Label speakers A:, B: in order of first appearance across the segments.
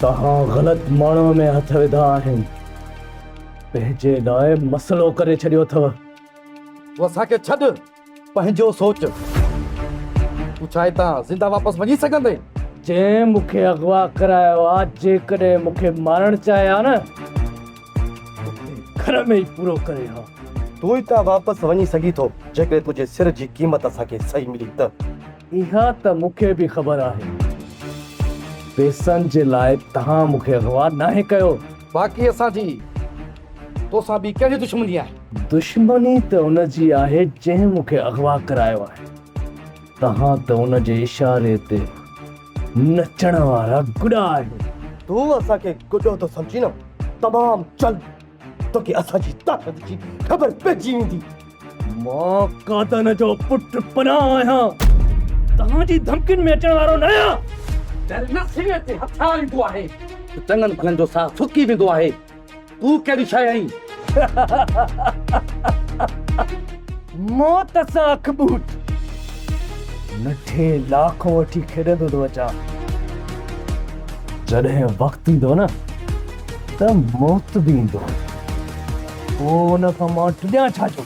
A: توهان غلط ماڻهوء ۾ هٿ وڌا آهن. پنهنجي لاء مسئلو ڪري ڇڏيو اٿو. تون
B: اسان کي ڇڏ. پنهنجو سوچ، تون ڇا هتان زنده واپس وڃي سگهندين؟ جنهن مون
A: کي اغوا ڪرايو آ، جيڪڏهن مون کي مارڻ چاهي ها نه ته گهر ۾ ئي پورو ڪري ها. تون هتان
B: واپس وڃي سگهين ٿو، جيڪڏهن تنهنجي سر جي قيمت اسان کي صحيح ملي ته. اها ته
A: مون کي به خبر آهي. پيسن جي لاء تهان مون کي اغوا ناهي ڪيو. باقي اسان جي
B: توسان ٻي ڪهڙي دشمني آهي؟ دشمني ته ان
A: جي آهي جنهن مون کي اغوا ڪرايو آهي. تهان ته ان جي اشاري تي نچڻ وارا گڏا آهيو. تون اسان کي
B: گڏو ٿو سمجهين؟ تمام جلد. توکي اسان جي طاقت جي خبر پئجي ويندي. مان
A: قادن جو پٽ پناهه آهيان. توهان جي ڌمڪين ۾ اچڻ وارو نه آهيان. جڏهن نه سيني
B: تي هٿيار ايندو آهي ته چڱن ڀلن جو ساهه سڪي ويندو آهي. تون ڪهڙي شيء آهين؟
A: موت سان اک ٻوٽ مٺي لاکو وٺي کيڏندو ٿو اچان. جڏهن وقت ايندو نه. ته موت به ايندو هو، پوء ان کان مان ٽڏيان ڇا جو؟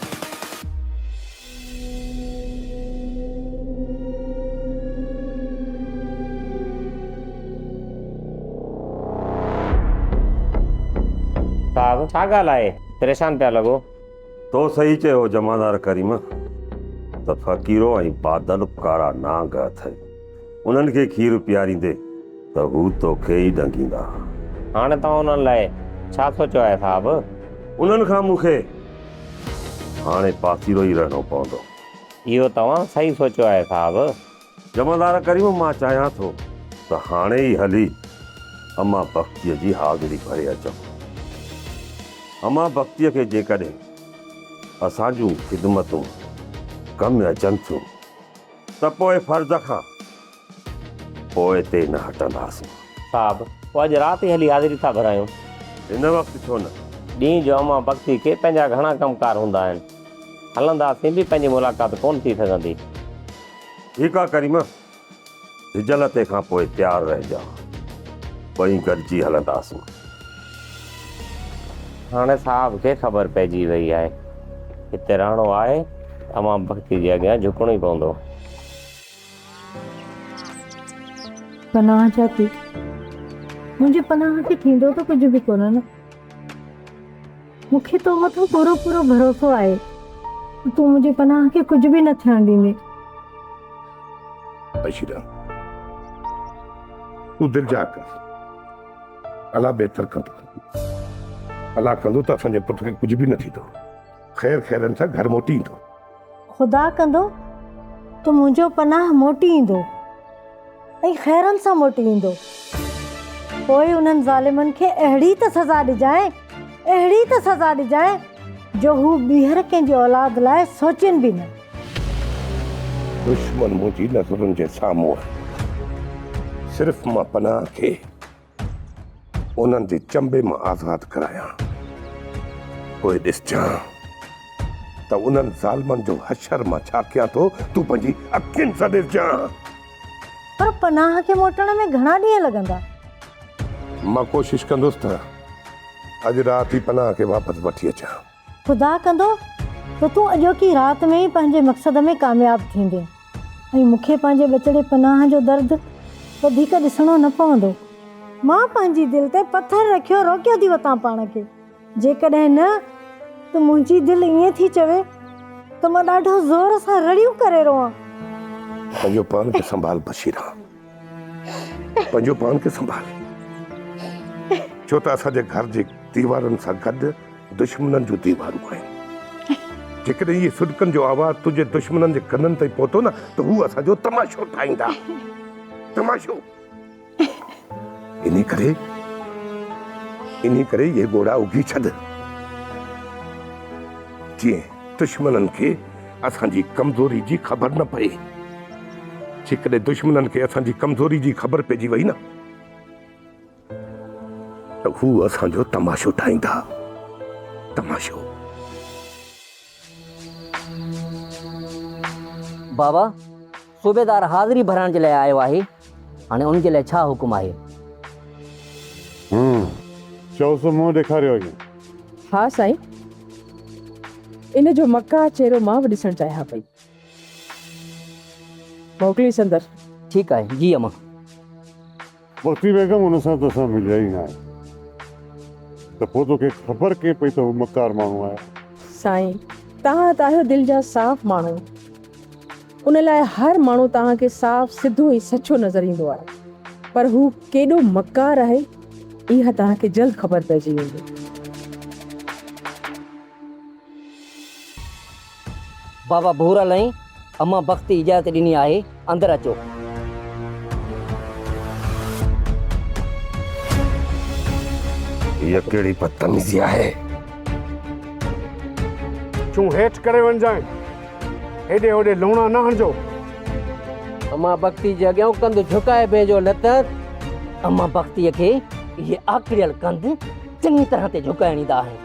C: صاحب ڇا ڳالهه آهي؟ پريشان پيا لڳو. تو صحيح
D: چيو جمعدار ڪريم ته فقيرو ۽ بادل ڪارا نانگ اٿئي انهن کي کير پياريندي ته هو توکي ئي ڏنگيندا. هاڻ توهان
C: انهن لاء ڇا سوچيو آهي صاحب؟ انهن کان
D: مون کي هاڻي پاسيرو ئي رهڻو پوندو. اهو توهان
C: صحيح سوچيو آهي صاحب. جمعدار ڪريم
D: مان چاهيان ٿو ته هاڻي ئي هلي امان بختيء جي حاضري ڀري اچون. امان بختيء کي جيڪڏهن اسان جون خدمتون ڪم اچن ٿيون ته پوء فرض کان پوئتي نه هٽنداسين. صاحب،
C: پوء اڄ رات ئي هلي حاضري ٿا ڀرايون. هن وقت
D: ڇو نه؟ ڏينهن جو امان
C: بختيء کي پنهنجا گهڻا ڪم ڪار هوندا آهن. هلنداسين به پنهنجي ملاقات ڪونه ٿي سگهندي. ٺيڪ
D: آ ڪريم، سجل تي کان پوء تيار رهجان، ٻئي گڏجي هلنداسون.
C: هاڻي صاحب کي خبر پئجي وئي آهي، هتي رهڻو آهي ته عوام بختي جي اڳيان جهڪڻو ئي پوندو.
E: پناهه جا پي منهنجي پناهه کي ٿيندو ته ڪجهه به ڪونه نه. مون کي تو مٿان پورو پورو ڀروسو آهي ته تون منهنجي پناهه کي ڪجهه به نه ٿيڻ ڏيندين.
F: عشيره! تون دلجاء ڪر. الله بهتر ڪندو. الله ڪندو ته اسان جي پٽ کي ڪجهه به نه ٿيندو. خير خيرن سان گهر موٽي ايندو. خدا
E: ڪندو ته منهنجو پناهه موٽي ايندو ۽ خيرن سان موٽي ايندو پوء انهن ظالمن کي اهڙي ته سزا ڏجانء اهڙي ته سزا ڏجانء جو هو ٻيهر ڪنهن جي اولاد لاء سوچين به نه دشمن
F: منهنجي نظرن جي سامهون آهي صرف مان پناهه کي انهن جي چنبي مان آزاد ڪرايان، پوء ڏسجان ته انهن ظالمن جو حشر مان ڇا ڪيان ٿو، تون پنهنجي اکين سان ڏسجان.
E: پر پناهه کي موٽڻ ۾ گهڻا ڏينهن لڳندا؟
F: مان ڪوشش ڪندس ته اڄ رات ئي پناهه کي واپس وٺي اچان. خدا ڪندو
E: ته تون اڄوڪي رات ۾ ئي پنهنجي مقصد ۾ ڪامياب ٿيندين ۽ مون کي پنهنجي ٻچڙي پناهه جو درد وڌيڪ ڏسڻو نه پوندو. مان پنهنجي دل تي پٿر رکيو روڪيو ٿي وتان پاڻ کي، جيڪڏهن نه ته منهنجي دل ائين ٿي چوي ته مان ڏاڍو زور سان رڙيون ڪري روئان. پنهنجو
F: پاڻ کي سنڀال بشيرا. پنهنجو پاڻ کي سنڀال ڇو ته اسان جي گهر جي ديوارن سان گڏ دشمنن جون ديوارون آهن جيڪڏهن اهي سڏڪن جو آواز تنهنجي دشمنن جي ڪنن تائين پهتو نه ته هو اسان جو تماشو ٺاهيندا تماشو انهي ڪري انهي ڪري اهي ڳوڙها اگهي ڇڏ جيئن دشمنن کي اسان جي ڪمزوري جي خبر نه پئي. جيڪڏهن دشمنن کي اسان جي ڪمزوري جي خبر پئجي وئي نه ته هو اسان جو تماشو ٺاهيندا. تماشو.
G: بابا! صوبيدار حاضري ڀرائڻ جي لاء آيو آهي، هاڻي ان جي لاء ڇا حڪم آهي؟ هون
H: چيس، منهن ڏيکاريو اڳيان. ها سائين،
I: ان جو مکاهه چهرو مان به ڏسڻ چاهيان پئي. موڪليس اندر. ٺيڪ آهي، جي
G: امان.
H: پوتي بيگم ان سان تو سان مليا ئي ناهي ته پوء توکي خبر ڪئين پئي ته هو مڪار ماڻهو آهي. سائين
I: توهان ته آهيو دل جا صاف ماڻهو ان لاء هر ماڻهو توهان کي صاف سڌو ۽ سچو نظر ايندو آهي پر هو ڪيڏو مڪار آهي اها توهان کي جلد خبر پئجي ويندي.
G: بابا ڀورل ۽ امان بختي اجازت ڏني آهي اندر اچو.
F: هيء ڪهڙي بدتميزي آهي.
J: چون هيٺ ڪري وڃجانء. هيڏي هوڏي لوڻا نه هڻجو.
G: امان بختي جي اڳيان ڪنڌ جهڪائي بيهجو نه ته. امان بختي کي اهي آڪڙيل ڪنڌ چڱي طرح تي جهڪائڻ ايندا آهن.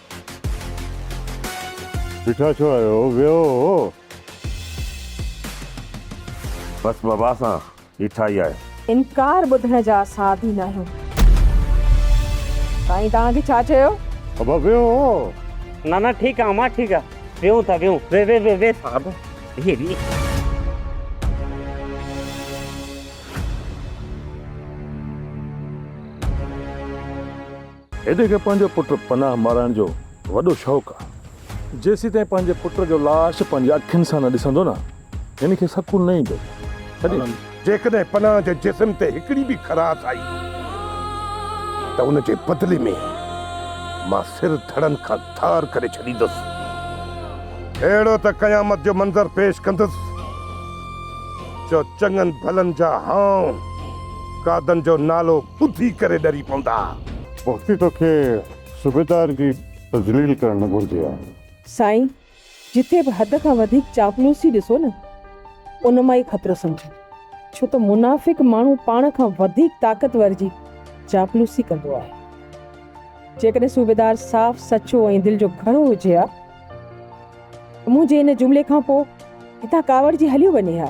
H: بيٺا ڇو آهيو، ويهو.
D: بس بابا اسان بيٺا ئي آهيون. انڪار ٻڌڻ
I: جا اسان عادي ناهيون. سائين توهان کي ڇا چيو؟ بابا ويهو.
H: نه نه
C: ٺيڪ آ امان ٺيڪ آ ويهون ٿا ويهون ويهه ويهه ويهه ويهه ٿا بابا ويهه ويهه.
K: هيڊي کي پنهنجو پٽ پناهه مارائڻ جو وڏو شوق آ. جيسيتائين پنهنجي پٽ جو لاش پنهنجي اکين سان نه ڏسندو نه هن کي سڪون نه ايندو. تڏهن
F: جيڪڏهن پناهه جي جسم تي هڪڙي به خراش آئي ته ان جي بدلي ۾ مان سر ڌڙن کان ڌار ڪري ڇڏيندس. اهڙو ته قيامت جو منظر پيش ڪندس جو چڱن ڀلن جا هانء قادن جو نالو ٻڌي ڪري ڏري پوندا. وقتي توکي
H: صوبيدار جي تذليل ڪرڻ نه گهرجي ها. سائين
I: جتي به حد کان وڌيڪ چاپلوسي ڏسو نه ان مان ئي خطرو سمجهو ڇو ته منافق ماڻهو پاڻ کان وڌيڪ طاقتور جي چاپلوسي ڪندو آهي جيڪڏهن صوبيدار صاف سچو ۽ دل جو گهرو هجي ها ته منهنجي ان جملي کان پوء هتان ڪاوڙجي هليو وڃي ها.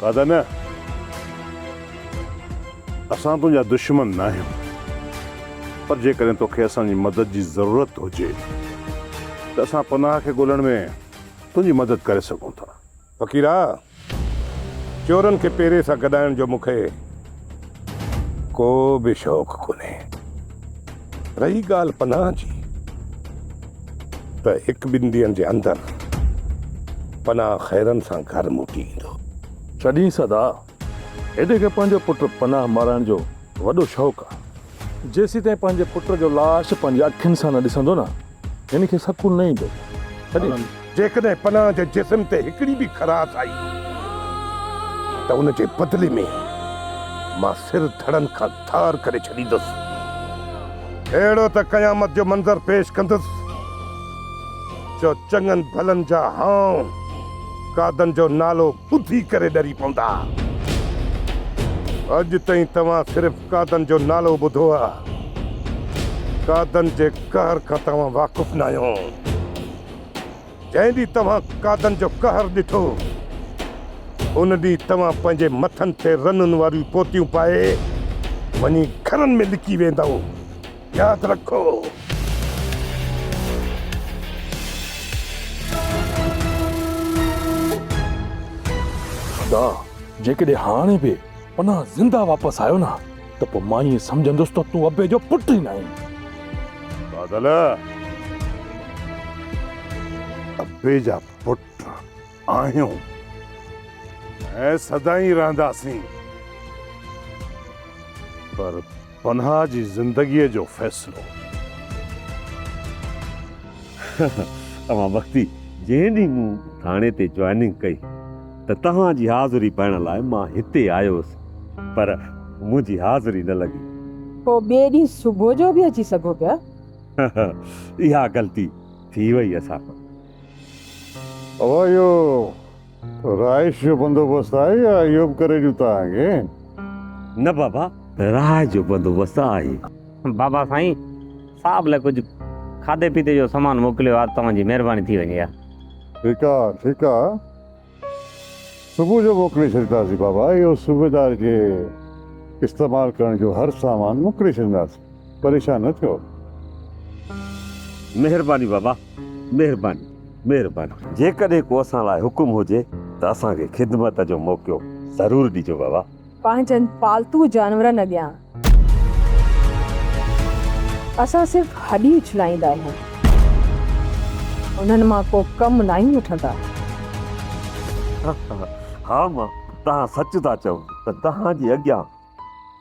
H: کاڌا نه اسان تنهنجا دشمن ناهيون پر جيڪڏهن توکي اسان جي مدد جي ضرورت هجي ته اسان پناهه کي ڳولڻ ۾ تنهنجي مدد ڪري سگهون ٿا. فقيرا!
F: چورن کي پيري سان گڏائڻ جو مون کي ڪو به شوق ڪونهي. رهي ڳالهه پناهه جي ته هڪ ٻن ڏينهن جي اندر پناهه خيرن سان گهر موٽي ايندو. چڏهين سدا
K: هيڊي کي پنهنجو پٽ پناهه مارائڻ جو وڏو شوق آ. جيسيتائين پنهنجي پٽ جو لاش پنهنجي اکين سان نه ڏسندو نه هن کي سڪون نه ايندو. تڏهن
F: جيڪڏهن پناهه جي جسم تي هڪڙي به خراش آئي ته ان جي بدلي ۾ مان سر ڌڙن کان ڌار ڪري ڇڏيندس. اهڙو ته قيامت جو منظر پيش ڪندس جو چڱن ڀلن جا هانء قادن جو نالو ٻڌي ڪري ڏري پوندا. اڄ تائين توهان صرف قادن جو نالو ٻڌو آ. قادن جي قهر کان توهان واقف ناهيو. جنهن ڏينهن توهان قادن جو قهر ڏٺو، ان ڏينهن توهان پنهنجي مٿن تي رنن واريون پوتيون پائي وڃي گهرن ۾ لڪي ويندؤ. ياد رکو.
K: خدا جيڪڏهن هاڻي به پناهه زنده واپس آيو نه ته پوء مان ائين سمجهندس ته تون ابي جو پٽ ئي ناهين. بادل
H: ابي جا پٽ آهيون ۽ سدائين رهنداسين پر پنها جي زندگيء جو فيصلو.
D: اوهان وقتي جنهن ڏينهن مون ٿاڻي تي جوائننگ ڪئي ته توهان جي حاضري پائڻ لاء مان هتي آيو هوس پر منهنجي حاضري نه لڳي. پوء ٻئي ڏينهن
I: صبح جو به اچي سگهو پيا.
D: اها غلطي ٿي وئي اسان کان.
H: اوهيو. رهائش جو بندوبست آهي يا اهو به ڪري ڏيون توهانکي؟ نه
D: بابا، رهائش جو بندوبست آهي. بابا سائين،
C: صاحب لاء ڪجهه کاڌي پيتي جو سامان موڪليو ها ته توهان جي مهرباني ٿي وڃي ها. ٺيڪ آ،
H: ٺيڪ آ. صبح جو موڪلي ڇڏينداسين بابا، اهو صوبيدار جي استعمال ڪرڻ جو هر سامان موڪلي ڇڏينداسين. پريشان نه ٿيو.
D: مهرباني بابا مهرباني مهرباني. جيڪڏهن ڪو اسان لاء حڪم هجي ته اسان کي خدمت جو موقعو ضرور ڏجو بابا. پنهنجن پالتو
I: جانورن اڳيان اسان صرف هڏي اڇلائيندا آهيون. انهن مان ڪو ڪم ناهيون وٺندا. ها ها
D: ها مان توهان سچ ٿا چئو ته توهان جي اڳيان.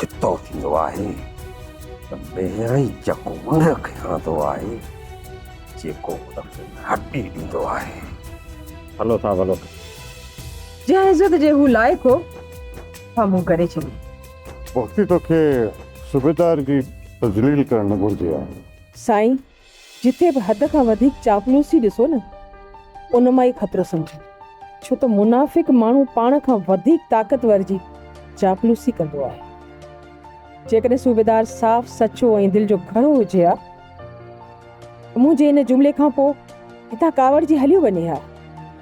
D: چتو ٿيندو آهي ته ميرئي چڪو ان کي هڻندو آهي جيڪو ان کي هٽي ڏيندو آهي هلو
C: ٿا ڀلو
I: جنهن عزت جي هو لائق هو سامهون ڪري ڇڏي بختي
H: توکي صوبيدار جي تذليل ڪرڻ نه گهرجي ها سائين
I: جتي به حد کان وڌيڪ چاپلوسي ڏسو نه ان مان ئي خطرو سمجهو ڇو ته منافق ماڻهو پاڻ کان وڌيڪ طاقتور جي چاپلوسي ڪندو آهي. جيڪڏهن صوبيدار صاف سچو ۽ دل جو گهرو هجي ها ته منهنجي ان جملي کان پوء هتان ڪاوڙجي هليو وڃي ها.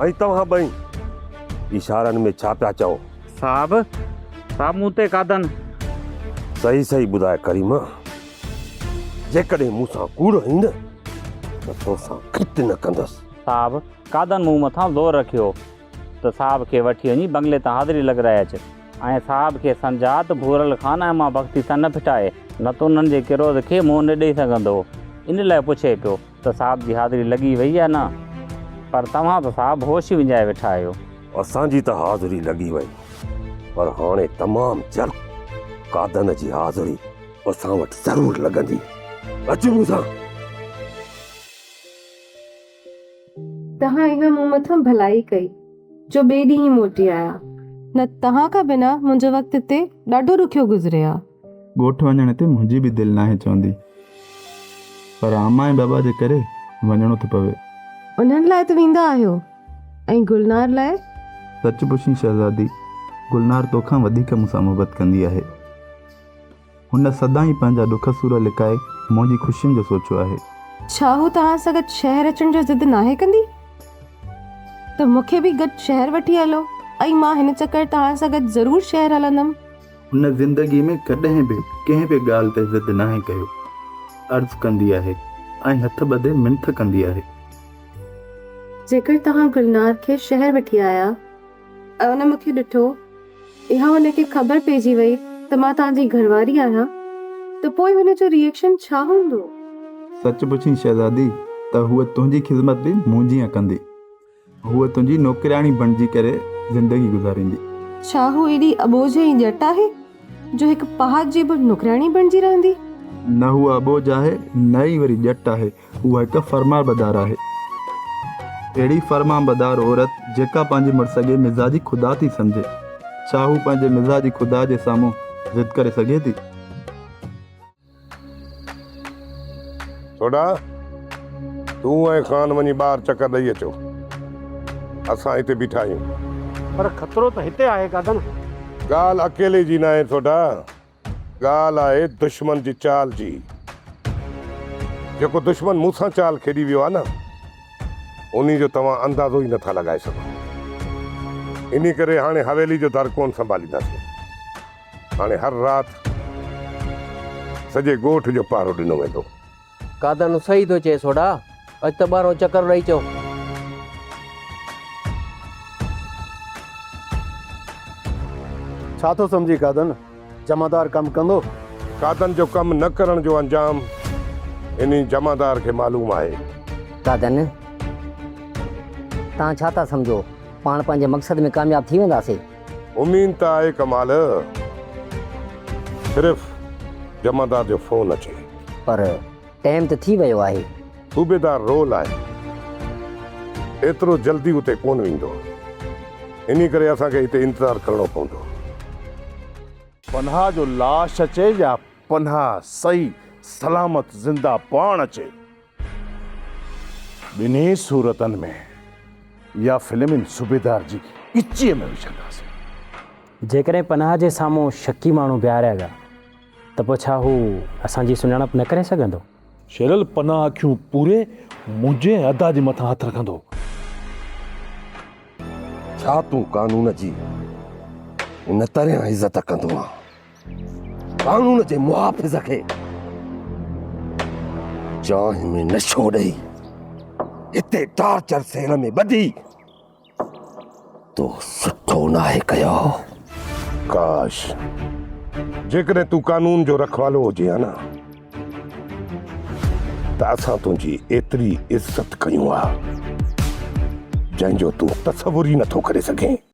D: ۽ توهان ٻئي اشارن ۾ ڇا پيا چئو؟ صاحب
C: صاحب مون تي قادن. صحيح
D: صحيح ٻڌاء ڪريمه جيڪڏهن مون سان ڪوڙ هئين نه ته تو سان گت نه ڪندس. صاحب قادن
C: مون مٿان زور رکيو ته صاحب کي وٺي وڃي بنگلي تان حاضري لڳرائي اچ ۽ صاحب کي سمجهاء ته ڀورل خان ۽ مان بختي سان نه ڦٽائي نه ته انهن جي ڪروڌ کي منهن نه ڏئي سگهندو ان لاء پڇي پيو ته صاحب جي حاضري لڳي وئي يا نه؟ پر توهان ته صاحب هوش ئي وڃائي ويٺا آهيو. اسان جي ته
D: حاضري لڳي وئي پر هاڻي تمام جلد قادن جي حاضري اسان وٽ ضرور لڳندي. اچ مون سان.
L: توهان اها مون مٿان ڀلائي ڪئي جو ٻئي ڏينهن ئي موٽي آيا. نه ته توهان کان بنا منهنجو وقت هتي ڏاڍو ڏکيو گذري ها. ڳوٺ وڃڻ تي
M: منهنجي به دل ناهي چوندي پر اما ۽ بابا جي ڪري وڃڻو ٿو پوي. انهن لاء ته
L: ويندا آهيو ۽ گلنار لاء؟ سچ پڇين
M: شهزادي، گلنار تو کان وڌيڪ مون سان محبت ڪندي آهي. هن سدائين پنهنجا ڏک سور لڪائي منهنجي خوشين جو سوچيو آهي. ڇا هو توهان
L: سان گڏ شهر اچڻ جو ضد ناهي ڪندي؟ ته مون کي به گڏ شهر وٺي هلو ۽ مان هن چڪر توهان سان گڏ ضرور شهر هلندم. هن زندگي
M: ۾ ڪڏهن به ڪنهن به ڳالهه تي ضد ناهي ڪيو. عرض ڪندي آهي ۽ هٿ ٻڌي منٿ ڪندي آهي.
L: جيڪر توهان گلنار کي شهر وٺي
M: آيا ۽
L: ان مون کي ڏٺو يا هن کي خبر پئجي وئي ته مان توهان جي گهرواري آهيان ته پوء هن جو ريئڪشن ڇا هوندو؟ سچ
M: پڇين شهزادي ته هوء تنهنجي خذمت به مون جيان ڪندي. هوء تنهنجي نوڪرياڻي بڻجي ڪري زندگي گذاريندي. ڇا هوء ايڏي
L: اٻوجهه ۽ ڄٽ آهي جو هڪ پهاٽ جي به نوڪرياڻي بڻجي رهندي؟ نه هوء
M: اٻوجهه آهي نه ئي وري ڄٽ آهي، هوء هڪ فرمانبردار آهي. اهڙي فرمانبردار عورت جيڪا پنهنجي مڙس کي مزاجي خدا ٿي سمجهي، ڇا هوء پنهنجي مزاجي خدا جي سامهون ضد ڪري سگهي ٿي؟
F: سوڍا، تون ۽ خان وڃي ٻاهر چڪر ڏئي اچو. اسان هتي بيٺا آهيون. پر خطرو ته هتي
J: آهي گادن. ڳالهه
F: اڪيلي جي ناهي سوڍا، ڳالهه آهي دشمن جي چال جي. جيڪو دشمن مون سان چال کيڏي ويو آهي نه، انهي جو توهان اندازو ئي نه ٿا لڳائي سگهو. انهي ڪري هاڻي حويلي جو در ڪونه سنڀالينداسين. هاڻي هر رات سڄي ڳوٺ جو پهرو ڏنو ويندو. قادانو
G: صحيح ٿو چئي سوڍا. اچ ته ٻاهرئون چڪر ڏئي اچون.
B: ڇا ٿو سمجهين قادن؟ جمعدار ڪم ڪندو؟ قادن جو
F: ڪم نه ڪرڻ جو انجام انهي جمعدار کي معلوم آهي. قادن
G: توهان ڇا ٿا سمجهو پاڻ پنهنجي مقصد ۾ ڪامياب ٿي وينداسين؟ امين ته
F: آهي ڪمال صرف جمعدار جو فون اچي. پر
G: ٽيم ته ٿي ويو آهي. صوبيدار رو
F: لاهي ايترو جلدي اتي ڪون ويندو انهي ڪري اسان کي هتي انتظار ڪرڻو پوندو.
H: پنهان جو لاش اچي يا پنهان صحيح سلامت زنده پاڻ اچي. ٻنهي صورتن ۾ اها فلم ان صوبيدار جي ڳچيء ۾ وجهنداسين. جيڪڏهن پناهه
N: جي سامهون شڪي ماڻهو بيهاريا ويا ته پوء ڇا هو اسان جي سڃاڻپ نه ڪري سگهندو؟ شيرل پناهه
K: اکيون پوري منهنجي ۽ ادا جي مٿان هٿ رکندو.
D: ڇا تون قانون جي ان طرح عزت ڪندو آهين؟ قانون جي محافظ کي چانهه ۾ نشو ڏئي هتي ٽارچر سيل ۾ ٻڌي تو سٺو ناهي ڪيو
F: ڪاش جيڪڏهن تون قانون جو رکوالو هجي ها نه ته اسان تنهنجي ايتري عزت ڪيون ها جنهن جو تون تصور ئي نٿو ڪري سگهين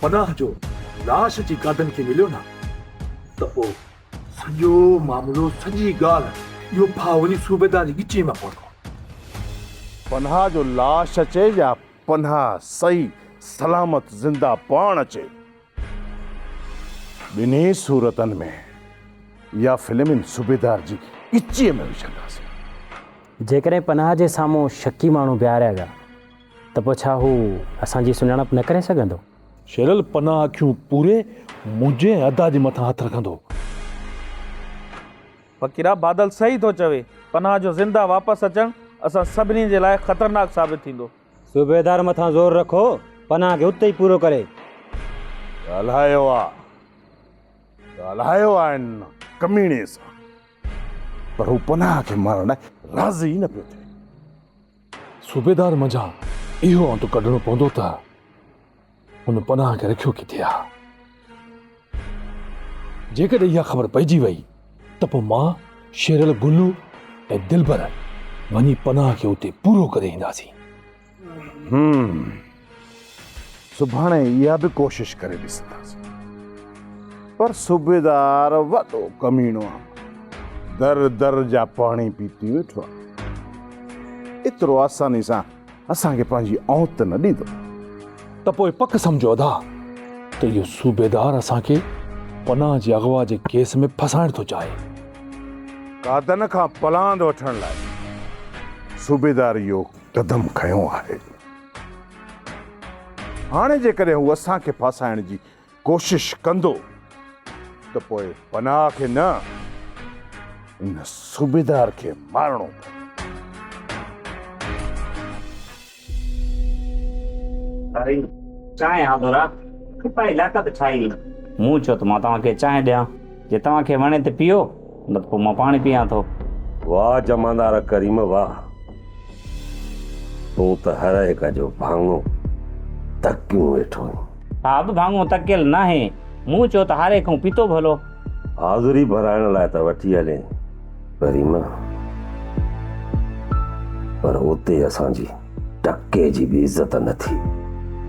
K: پناهه جو لاش جي گادن کي مليو نه ته پوء سڄو معاملو سڄي ڳالهه اهو ڦاهه وڃي صوبيدار جي ڳچيء مان پوندو.
H: پناهه جو لاش اچي يا پناهه صحيح سلامت زنده پاڻ اچي ٻنهي صورتن ۾ اها فلم ان صوبيدار جي ڳچيء ۾ وجهنداسين. جيڪڏهن پناهه
N: جي سامهون شڪي ماڻهو بيهاريا ويا. ته پوء ڇا هو اسان جي سڃاڻپ نه ڪري سگهندو؟ شيرل پناهه
K: اکيون پوري منهنجي ۽ ادا جي مٿان هٿ رکندو.
O: فقيرا بادل صحيح ٿو چوي. پناهه جو زنده واپس اچڻ اسان سڀني جي لاء خطرناڪ ثابت ٿيندو. صوبيدار مٿان
N: زور رکو پناهه کي اتي ئي پورو ڪري.
H: ڳالهايو آ ڳالهايو آ ان ڪميڻي سان پر هو پناهه کي مارڻ لاء راضي ئي نه پيو ٿئي.
K: صوبيدار منجهان اهو انت ڪڍڻو پوندو ته هن پناهه کي رکيو ڪٿي آ. جيڪڏهن اها خبر پئجي وئي ته پوء مان، شيرل، گلو ۽ دلبر وڃي پناهه کي اتي پورو ڪري اينداسين.
H: سڀاڻي اها به ڪوشش ڪري ڏسنداسين. پر صوبيدار وڏو ڪميڻو آ. در در جا پاڻي پيتي ويٺو آ. ايترو آساني سان اسان کي پنهنجي اوت نه ڏيندو. ته پوء
K: پڪ سمجهو ادا ته اهو صوبيدار اسان کي پناهه جي اغوا جي ڪيس ۾ ڦسائڻ ٿو چاهي.
H: قادن کان پلاند وٺڻ لاء صوبيدار اهو قدم کنيو آهي. هاڻي جيڪڏهن هو اسان کي ڦاسائڻ جي ڪوشش ڪندو ته پوء پناهه کي نه ان صوبيدار کي مارڻو پوندو. اري چانهه ها ڀورا،
C: ڪپائي لاڪت ٺاهي. مون چيو ته مان توهان کي چانهه ڏيان، جي توهان کي وڻي ته پيئو. نه ته پوء مان پاڻي پيئان ٿو. واهه جمعدار
D: ڪريم واهه. تون ته هر هڪ جو ڀاڱو تڪيون ويٺو آهين. صاحب ڀاڱو
C: تڪيل ناهي. مون چيو ته هاري کان پيتو ڀلو. حاضري
D: ڀرائڻ لاء ته وٺي هلين ڪريم پر اتي اسان جي. ٽڪي جي به عزت نه ٿي.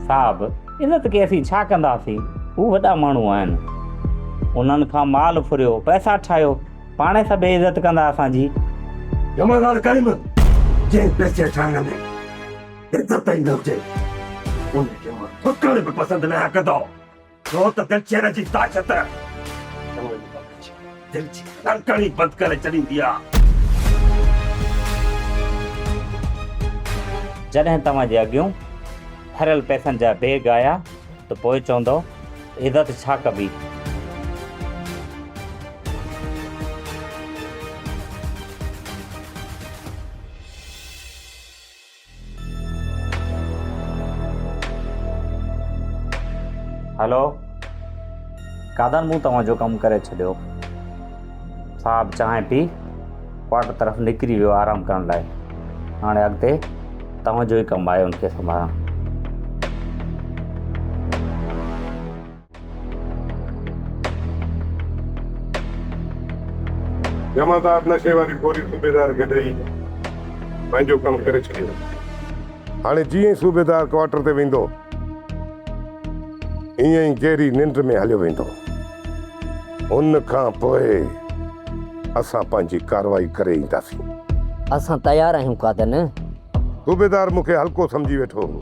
D: صاحب
C: ان ته ڪي اسين ڇا ڪنداسين هو وڏا ماڻهو آهن انهن کان مال ڦريو پئسا ٺاهيو پاڻهي سڀيئي عزت ڪندا اسان جي. جمعدار
D: ڪريم جنهن پئسي ٺاهڻ ۾ عزت ئي نه هجي ان کي مان ٿڪڻ به پسند نه آهيان ڪندو. ڇو ته دلچير جي طاقت دل جي ڌڙڪن ئي بند ڪري ڇڏيندي آ.
C: جڏهن توهان جي اڳيون ڀريل پئسن جا بيگ آيا ته پوء چوندؤ عزت ڇا ڪبي. هلو قادان مون توهان جو ڪم ڪري ڇڏيو صاحب چانهه پي ڪوارٽر طرف نڪري ويو آرام ڪرڻ لاء هاڻي اڳتي توهان جو ئي ڪم آهي ان کي سنڀالڻ
F: جمعدار نشي واري گوري صوبيدار کي ڏئي پنهنجو ڪم ڪري ڇڏيو. هاڻي جيئن ئي صوبيدار ڪوارٽر تي ويندو ايئن ئي گيري ننڊ ۾ هليو ويندو. ان کان پوء اسان پنهنجي ڪارروائي ڪري اينداسين. اسان
G: تيار آهيون قادر. صوبيدار
F: مون کي هلڪو سمجهي ويٺو هو.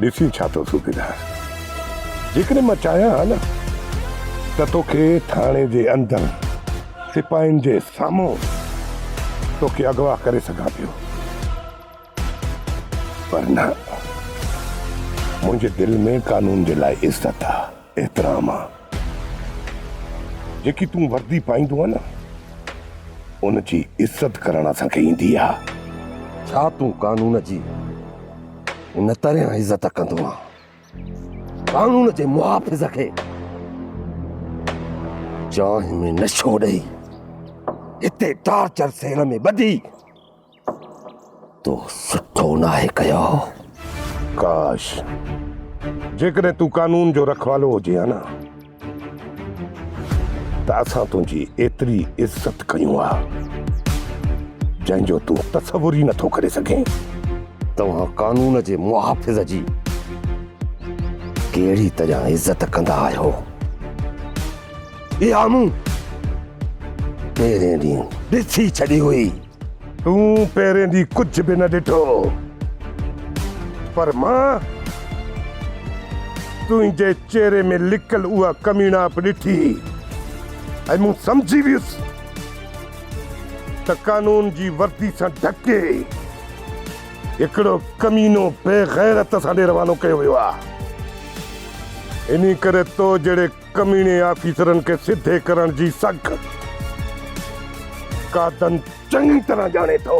F: ڏسين ڇا ٿو صوبيدار. جيڪڏهن مان چاهيان ها نه ته توکي ٿاڻي جي اندر سپاهين جي سامهون توکي اغوا ڪري سگهان پيو. پر نه منهنجي دل ۾ قانون جي لاء عزت آ. احترام آ جيڪي تون وردي پائيندو آ نه ان جي عزت ڪرڻ اسان کي ايندي آ. ڇا تون قانون
D: جي ان طرح عزت ڪندو آ قانون جي محافظ کي چانهه ۾ نشو ڏئي هتي ٽارچر سيل ۾ ٻڌي. تو سٺو ناهي ڪيو.
F: ڪاش! جيڪڏهن تون قانون جو رکوالو هجين ها نه ته اسان تنهنجي ايتري عزت ڪيون ها، جنهن جو تون تصور ئي نٿو ڪري سگهين. توهان
D: قانون جي محافظ جي ڪهڙي طرح عزت ڪندا آهيو؟ اها مون پهرين ڏينهن ڏسي ڇڏي هئي. تون
F: پهرين ڏينهن ڪجهه به نه ڏٺو پر مان تنهنجي چهري ۾ لڪل اها ڪميڻائپ ڏٺي ۽ مون سمجهي ويس ته قانون جي وردي سان ڍڪي هڪڙو ڪمينو بيغيرت اسان ڏي روانو ڪيو ويو آهي انهي ڪري تو جهڙي ڪميڻي آفيسرن کي سڌي ڪرڻ جي سگھ قادن چڱي طرح ڄاڻي ٿو.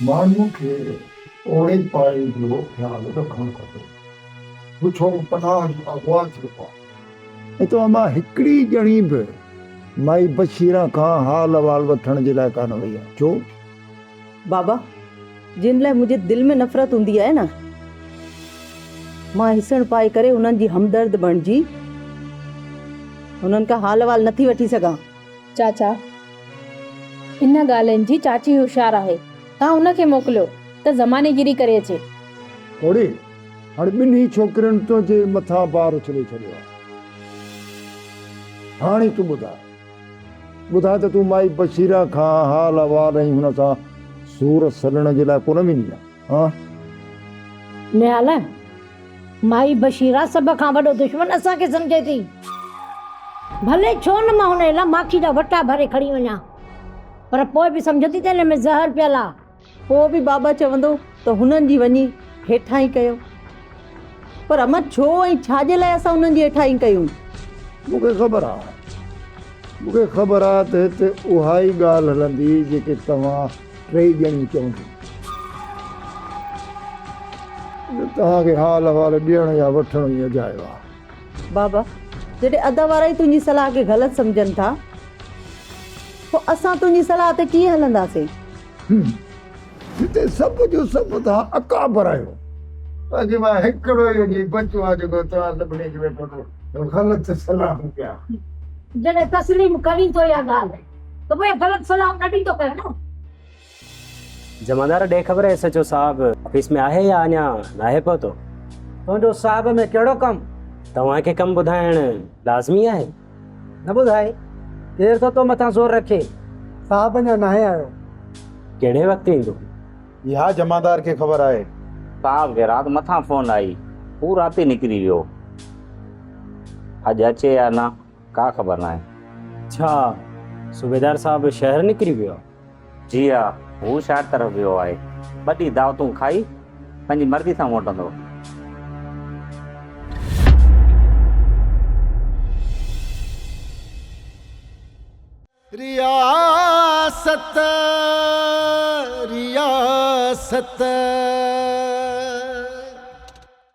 P: ماڻهن کي پوڙهي پاڙي جو خيال رکڻ کپي. پڇو پناهه جو اغوا ٿيو آهي. اتان مان هڪڙي
Q: ڄڻي به مائي بشيره کان حال احوال وٺڻ جي لاء ڪانه وئي آهي. ڇو؟ بابا
R: جن لاء منهنجي دل ۾ نفرت هوندي آهي نه مان هسڻ پائي ڪري انهن جي همدرد بڻجي انهن کان حال وال نٿي وٺي سگهان. چاچا
S: ان ڳالهين جي چاچي هوشيار آهي توهان ان کي موڪليو ته زماني گيري ڪري اچي. پوڙهي
Q: هاڻي ٻنهي ڇوڪرين تنهنجي مٿان بار اڇلي ڇڏيو آهي هاڻي تون ٻڌاء ٻڌاء ته تون مائي بشيره کان حال احوال ۽ هن سان سور سلڻ جي لاء ڪونه ويندين ها؟
E: نهال، مائي بشيره سڀ کان وڏو دشمن اسان کي سمجهي ٿي. ڀلي ڇو نه مان هن جي لاء ماکي جا وٽا ڀري کڻي وڃان پر پوء به سمجهندي ته هن ۾ زهر پيل آ. پوء به بابا
R: چوندو ته هنن جي وڃي هيٺائين ڪيو. پر امڙ ڇو ۽ ڇا جي لاء اسان انهن جي هيٺائين ڪيون؟ مون کي خبر
Q: آ. مون کي خبر آ ته هتي اها ئي ڳالهه هلندي جيڪي توهان ٽيئي ڄڻيون چونديون. جو توهان کي حال احوال ڏيڻ يا وٺڻ ئي اجايو آ. بابا،
R: جڏهن ادا وارا ئي تنهنجي صلاح کي غلط سمجهن ٿا، پوء اسان تنهنجي صلاح تي ڪيئن هلنداسين؟
Q: جتي سڀ جو سڀ تها اڪابر آهيو. باقي مان هڪڙو ئي جي بچو آهيان جيڪو توهان
E: سڀني کي ويٺو ٿو غلط سلام ڪيان. جڏهن تسليم ڪرين ٿو اها ڳالهه ته پوء غلط سلام نه ڏيندو ڪر نه.
N: جمعدار ڏي خبر ايس ايڇ او صاحب آفيس ۾ آهي يا اڃا ناهي پهتو. تنهنجو
G: صاحب ۾ ڪهڙو ڪم. توهان کي ڪم
N: ٻڌائڻ لازمي آهي. نه ٻڌاء،
G: ڪير ٿو تو مٿان زور رکي؟ صاحب اڃا
B: ناهي آيو. ڪهڙي
N: وقت ايندو؟ اها
M: جمعدار کي خبر آهي. صاحب کي رات
C: مٿان فون آئي، هو رات ئي نڪري ويو. اڄ اچي يا نه، ڪا خبر ناهي. اڇا،
N: صوبيدار صاحب شهر نڪري ويو آهي. جي ها،
C: هو شاعر طرف ويو آهي. ٻه ٽي دعوتون کائي، پنهنجي مرضي سان موٽندو.
T: رياست رياست.